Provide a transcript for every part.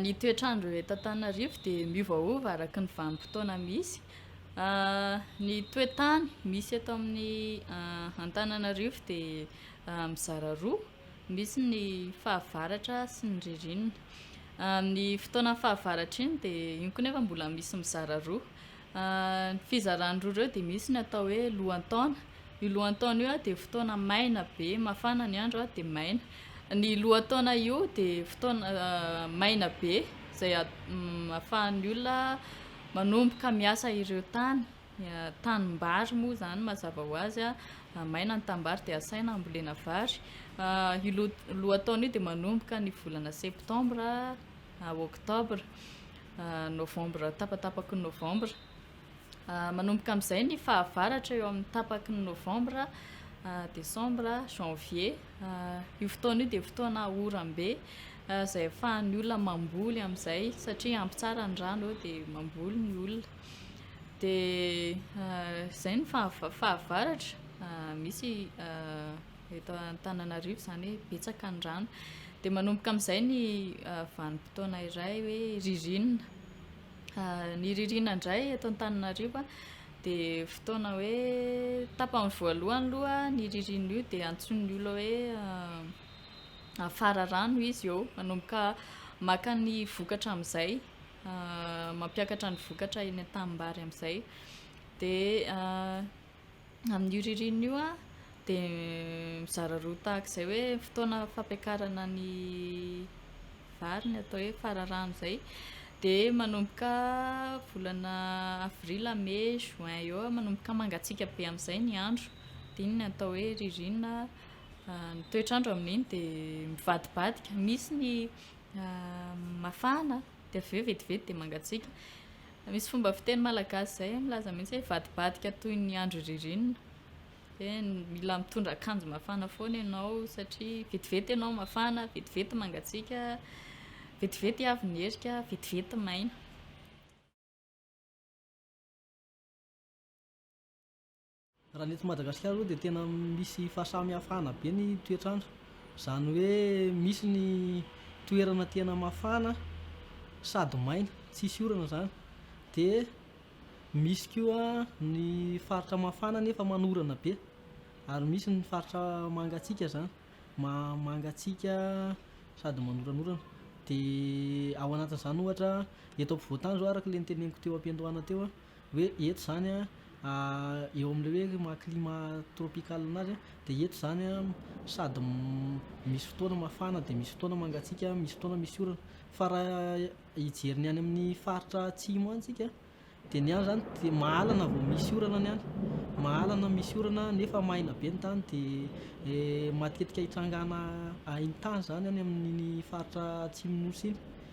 Ny toetr'andro eto Antananarivo dia miovaova araka ny vanim-potoana misy. Ny toe-tany misy eto amin'ny Antananarivo dia mizara roa, misy ny fahavaratra sy ny ririnina. Amin'ny fotoana fahavaratra iny dia iny koa nefa mbola misy mizara roa, Ny fizarany roa ireo dia misy ny atao hoe lohan-taona. Io lohan-taona io dia fotoana maina be, mafana ny andro dia maina. Ny lohan-taona io dia fotoana maina be izay ahafahan'ny olona manomboka miasa ireo tany. Tanimbary moa izany mazava ho azy, maina ny tanimbary dia asaina hambolena vary. Io loha- lohan-taona io dia manomboka ny volana septambra, oktobra. Novambra, tapatapaky ny Novambra. Manomboka amin'izay ny fahavaratra eo amin'ny tapaky ny Novambra, Desambra, Janvier. Io fotoana io dia fotoana oram-be izay ahafahan'ny olona mamboly amin'izay satria ampy tsara ny rano eo dia mamboly ny olona. Dia izay ny fahavaratra, misy eto Antananarivo izany hoe betsaka ny rano. Dia manomboka amin'izay ny ah, vanim-potoana iray hoe ririnina. Ah, ny ririnina indray eto Antananarivo dia fotoana hoe tapany voalohany loha ny ririnina io dia antsoin'ny olona hoe ah, afara rano izy eo. Manomboka maka ny vokatra amin'izay, mampiakatra ny vokatra eny an-tanimbary amin'izay. Dia Amin'io ririnina io dia mizara roa tahaka izay hoe fotoana fampiakarana ny vary ny atao hoe fararano izay dia manomboka volana avril, mai, juin eo eo manomboka mangatsiaka be amin'izay ny andro dia iny no atao hoe ririnina ny toetr'andro amin'iny dia mivadibadika misy ny mafana dia avy eo vetivety dia mangatsiaka Misy fomba fiteny malagasy izay milaza mihitsy hoe vadibadika toy ny andro ririnina. Dia mila mitondra akanjo mafana foana ianao satria vetivety ianao mafana, vetivety mangatsiaka, vetivety avy ny herika, vetivety maina. Raha ny eto Madagasikara aloha dia tena misy fahasamihafana be ny toetr'andro, izany hoe misy ny toerana tena mafana sady maina tsisy orana izany dia misy koa ny faritra mafana nefa manorana be ary misy ny faritra mangatsiaka izany ma- mangatsiaka sady manoranorana dia ao anatin'izany ohatra eto ampovoan-tany izao araka ilay noteneniko teo am-piandohana teo a hoe eto izany an, eo amin'ilay hoe maha climat tropical anazy an, dia eto izany an sady misy fotoana mafana dia misy fotoana mangatsiaka, misy fotoana misy orana. Fa raha hijery ny any amin'ny faritra atsimo any tsika an, dia ny any izany dia mahalana vao misy orana ny any, mahalana misy orana nefa maina be ny tany dia matetika ahitranganà ahintany izany any amin'ny faritra atsimon'ny nosy iny.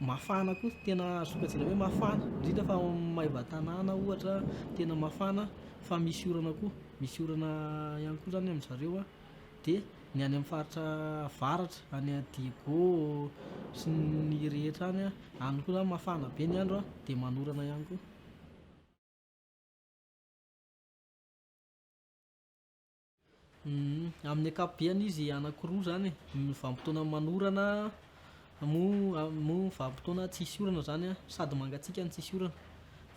Mafana koa, tena sokajiana hoe mafana, indrindra fa ao amin'ny maivan-tanàna ohatra tena mafana fa misy orana koa, misy orana ihany koa izany amin-dry zareo an, dia ny any amin'ny faritra avaratra any Diego sy ny rehetra any an, any koa izany mafana be ny andro an, dia manorana ihany koa. Amin'ny ankapobeany izy anakiroa zany e, vanim-potoana manorana moa moa vanim-potoana tsisy orana zany an, sady mangatsiaka no tsisy orana,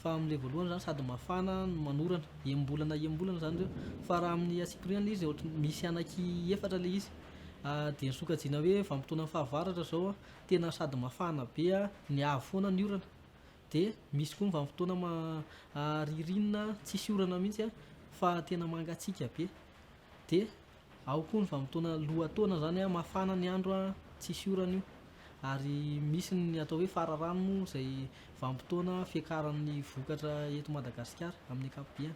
fa amle voalohany zany sady mafana no manorana, enim-bolana enim-bolana zany reo, fa raha amin'ny antsipiriany le izy ohatran'ny misy anaky efatra le izy, de ny sokajiana hoe vanim-potoana fahavaratra zao an, tena sady mafana be an, mihavy foana ny orana, dia misy koa ny vanim-potoana ririnina tsisy orana mihitsy an, fa tena mangatsiaka be. Dia ao koa ny vanim-potoana lohataona izany an, mafana ny andro an, tsisy orana io. Ary misy ny atao hoe fararano moa izay vanim-potoana fiakaran'ny vokatra eto Madagasikara amin'ny ankapobeny.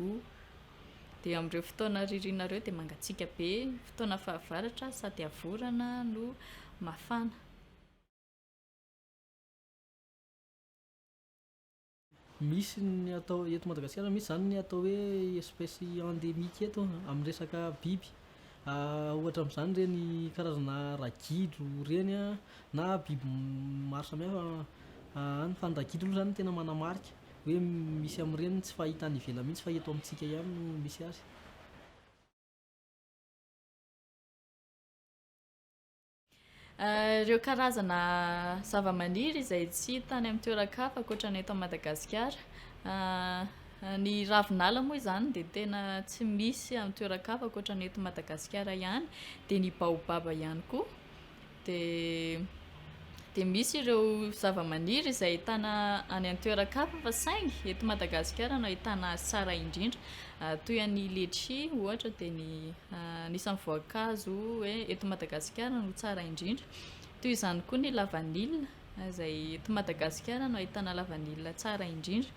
O. Dia amin'ireo fotoana ririnina ireo dia mangatsiaka be, fotoana fahavaratra sady havorana no mafana. Misy ny atao eto Madagasikara misy izany ny atao hoe espèce endémique eto amin'ny resaka biby. Ohatra amin'izany ireny karazana ragidro ireny na biby maro samihafa, any fa ny ragidro aloha izany no tena manamarika hoe misy amin'ireny tsy fahita any ivelany mihitsy fa eto amintsika ihany no misy azy. Ireo karazana zavamaniry izay tsy hita any amin'ny toeran-kafa ankoatra ny eto Madagasikara. Ny ravinala moa izany dia tena tsy misy amin'ny toeran-kafa ankoatra ny eto Madagasikara ihany, dia ny baobaba ihany koa. Dia dia misy ireo zavamaniry izay ahitana any an-toeran-kafa fa saingy eto Madagasikara no ahitana azy tsara indrindra. Toy an'ny letchi ohatra dia ny anisan'ny voankazo hoe eto Madagasikara no tsara indrindra. Toy izany koa ny lavanila izay eto Madagasikara no ahitana lavanila tsara indrindra.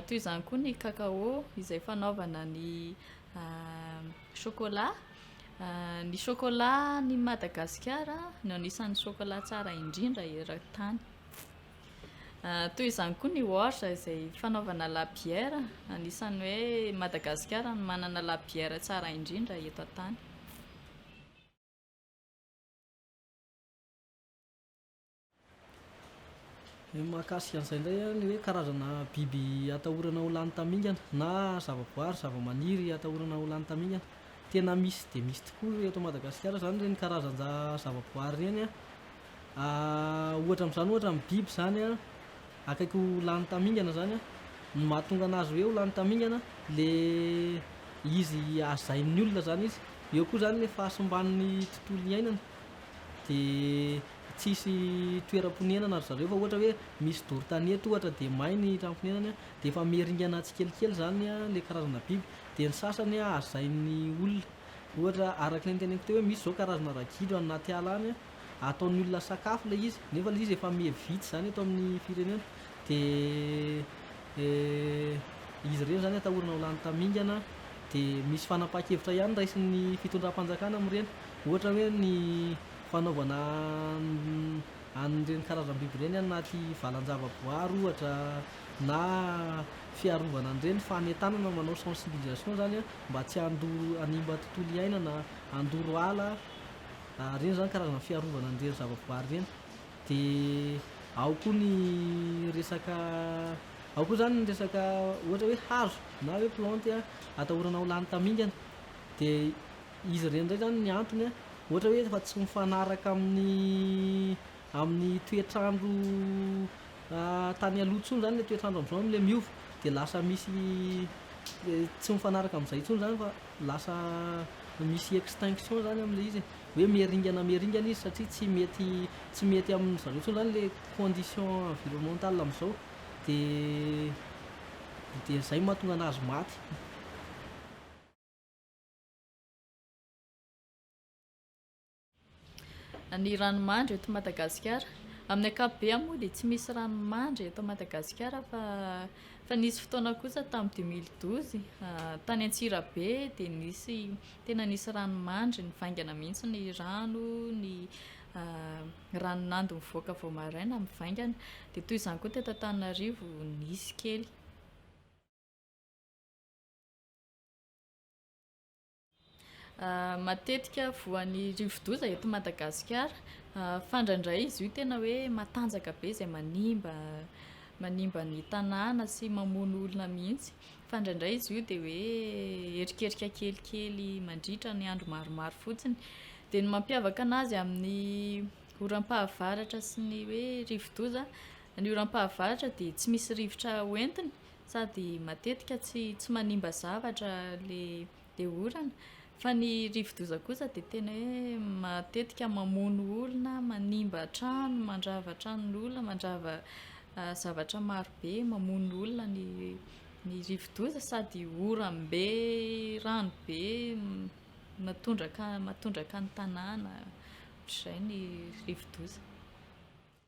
Toy izany koa ny cacao izay fanaovana ny Chocolat, Ny chocolat any Madagasikara no anisan'ny chocolat tsara indrindra eran-tany. Toy izany koa ny orge izay fanaovana la bière, anisan'ny hoe Madagasikara no manana la bière tsara indrindra eto an-tany. Ny mahakasika an'izay indray an, ny hoe karazana biby atahorana ho lany tamingana na zavaboary, zavamaniry atahorana ho lany tamingana. Tena misy dia misy tokoa eto Madagasikara izany ireny karazan-javaboary ireny an. Ohatra amin'izany ohatra ny biby izany an, akaiky ho lany tamingana izany an, ny mahatonga anazy hoe ho lany tamingana dia izy hajain'ny olona izany izy. Eo koa izany ny fahasimban'ny tontolo iainana dia tsisy toeram-ponenana ry zareo fa ohatra hoe misy doro tanety ohatra dia may ny trano fonenany dia efa miringana tsikelikely izany ilay karazana biby dia ny sasany hazain'ny olona ohatra araka ny teneniko teo hoe misy izao karazana ragidro any anaty ala any ataon'ny olona sakafo ilay izy nefa ilay izy efa miha vitsy izany eto amin'ny firenena dia izy ireny izany atahorana ho lany tamingana dia misy fanapahan-kevitra ihany raisin'ny fitondram-panjakana amin'ireny ohatra hoe ny fanaovana an'ireny karazam-biby ireny any anaty valan-javaboary ohatra na fiarovana an'ireny, fanentanana manao sensibilisation izany mba tsy hanimba tontolo iainana, handoro ala, ireny izany karazana fiarovana an'ireny zavaboary ireny, dia ao koa ny resaka ao koa izany ny resaka ohatra hoe hazo na hoe plantes atahorana ho lany tamingana dia Izy ireny indray izany ny antony an, ohatra hoe efa tsy mifanaraka amin'ny amin'ny toetr'andro tany aloha intsony izany ilay toetr'andro amin'izao amin'ilay miova, dia lasa misy tsy mifanaraka amin'izay intsony izany fa lasa misy extinction izany amin'ilay izy e, hoe miharingana miharingana izy satria tsy mety tsy mety amin-dry zareo intsony izany ilay condition environnementale amin'izao, dia dia izay no mahatonga an'azy maty. Ny ranomandry eto Madagasikara. Amin'ny ankapobeny moa dia tsy misy ranomandry eto Madagasikara fa fa nisy fotoana kosa tamin'ny deux mille douze tany Antsirabe dia nisy tena nisy ranomandry nivaingana mihitsy ny rano, ny rano nando nivoaka vao maraina mivaingana. Dia toy izany koa teto Antananarivo nisy kely. Matetika voan'ny rivodoza eto Madagasikara. Fandraindray izy io tena hoe matanjaka be izay manimba manimba ny tanàna sy mamono olona mihitsy. Fa indraindray izy io dia hoe erikerika kelikely mandritra ny andro maromaro fotsiny. Dia ny mampiavaka anazy amin'ny oram-pahavaratra sy ny hoe rivodoza, ny oram-pahavaratra dia tsy misy rivotra ho entiny sady matetika tsy tsy manimba zavatra le le orana fa ny rivodoza kosa de tena hoe matetika mamono olona manimba trano mandrava tranon'olona mandrava zavatra maro be mamono olona ny ny rivodoza sady orambe rano be matondraka matondraka ny tanàna ohatr'izay ny rivodoza